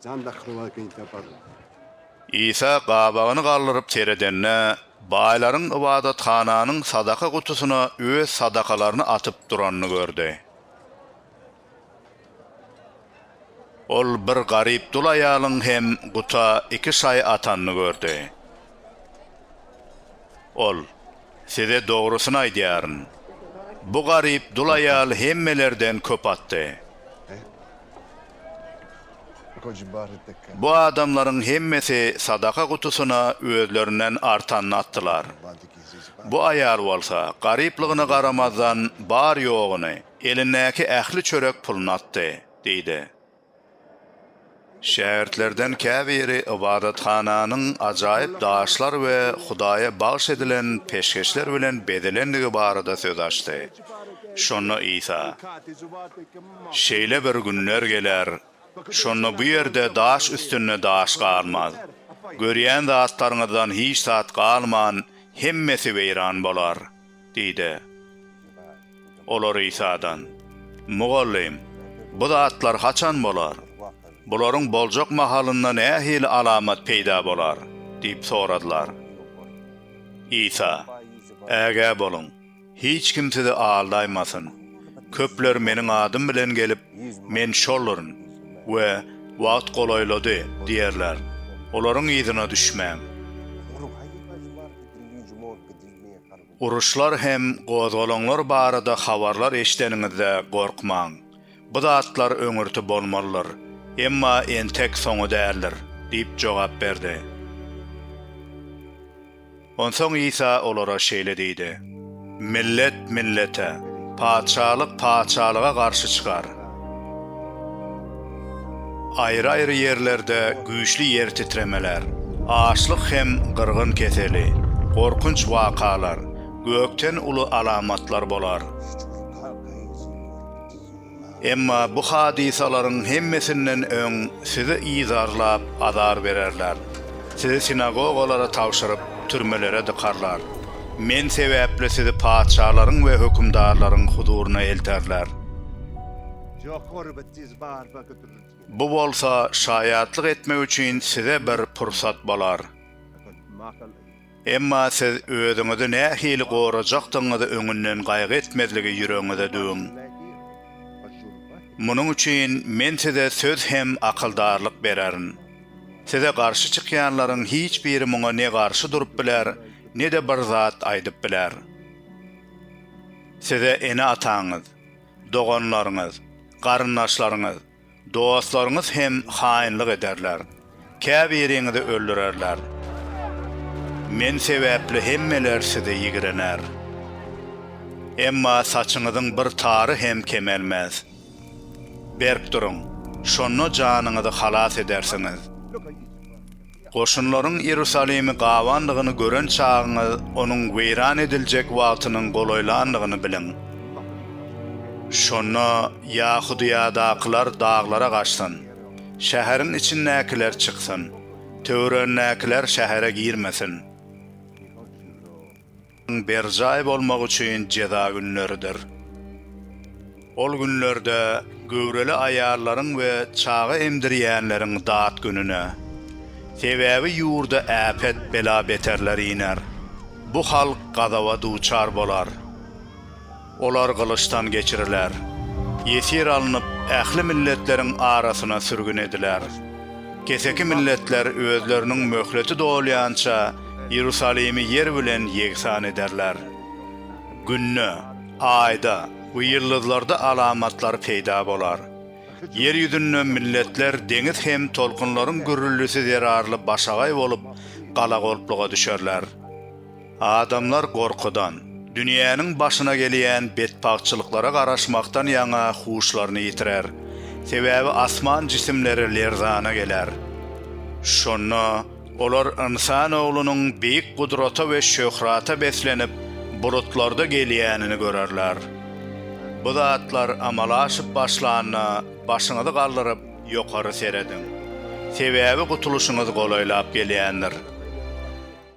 Jan dakylmaly beýik saparlar. Isa gabagyny galdyryp seredende, baýlaryň ybadathananyň sadaka gutusyna öz sadakalaryny atyp duranyny gördi. Ol bir garyp dul aýalyň hem guta iki şaý atanyny gördi. Ol. Size dogrusyny aýdýaryn, bu garyp dul aýal hemmelerden köp atdy. Bu adamlaryň hemmesi sadaka gutusyna özlerinden artanyny atdylar. Bu aýal bolsa, garyplygyna garamazdan, bar-ýoguny, elindäki ähli çörek puluny atdy, diýdi. Şägirtlerden käbiri ybadathananyň ajaýyp daşlar we Hudaýa bagyş edilen peşgeşler bilen bezelendigi barada söz açdy. Şonda Isa, Şeýle bir günler geler, şonda bu ýerde daş üstünde daş galmaz. Görýän zatlaryňyzdan hiç zat galman, hemmesi weýran bolar. Diýdi. Olar Isadan, Mugallym, bu zatlar haçan bolar? Bularyň boljak mahalynda nähili alamat peýda bolar? diýip soradylar. Isa, Ägä boluň, hiç kim sizi aldaýmasyn. Köpler Meniň adym bilen gelip, Men şolduryn we Wagt golaýlady diýerler. Olaryň yzyna düşmäň. Uruşlar hem gozgalaňlar barada habarlar eşideniňizde gorkmaň. Bu zatlar öňürti bolmalydyr, emma entek soňy däldir diýip jogap berdi. Onsoň Isa olara şeýle diýdi, Millet millete, patyşalyk patyşalyga garşy çykar. Aýry-aýry ýerlerde güýçli ýer titremeler, açlyk hem gyrgyn keseli, gorkunç wakalar, gökden uly alamatlar bolar. Emma bu hadysalaryň hemmesinden öň sizi yzarlap azar bererler, sizi sinagogalara tabşyryp, türmelere dykarlar. Men sebäpli sizi patyşalaryň we hökümdarlaryň huzuryna elterler. Bu bolsa şaýatlyk etmek üçin size bir pursat bolar. Emma siz özüňizi nähili gorajakdygyňyzy öňünden gaýgy etmezligi ýüregiňize düwüň. Munuň üçin Men size söz hem akyldarlyk bererin. Size garşy çykýanlaryň hiç biri muňa ne garşy durup biler, ne-de bir zat aýdyp biler. Size ene-ataňyz, doganlaryňyz, garyndaşlaryňyz, dostlaryňyz hem haýynlyk ederler, käbiriňizi öldürerler. Men sebäpli hemmeler size ýigrener. Emma saçyňyzyň bir tary hem kemelmez. Berk duruň, şonda janyňyzy halas edersiňiz. Goşunlaryň Iýerusalimi gabandygyny gören çagyňyz onuň weýran ediljek wagtynyň golaýlandygyny biliň. Şonda Ýahudyýadakylar daglara gaçsyn, şäheriň içindäkiler çyksyn, töweregindäkiler şähere girmesin. Ň berjaý bolmak üçin jeza günleridir. Ol günlerde göwreli aýallaryň we çaga emdirýänleriň dat gününe. Sebäbi ýurda äpet, bela-beterler iner. Bu halk gazaba duçar bolar. Olar gylyçdan geçiriler. Ýesir alnyp, ähli milletleriň arasyna sürgün ediler. Keseki milletler özleriniň möhleti dolýança Iýerusalimi ýer bilen ýegsan ederler. Günde, Aýda we ýyldyzlarda alamatlar peýda bolar. Ýer ýüzünde milletler deňiz hem tolkunlaryň gürrüldisi zerarly başagaý bolup, galagolpluga düşerler. Adamlar gorkudan, dünýäniň başyna gelýän betbagtçylyklara garaşmakdan ýaňa huşlaryny ýitirer. Sebäbi asman jisimleri lerzana geler. Şonda olar ynsan oglunyň beýik gudrata we şöhrata beslenip, bulutlarda gelýänini görerler. Bu zatlar amala aşyp başlanda, başyňyzy galdyryp, ýokary serediň. Sebäbi gutulyşyňyz golaýlap gelýändir.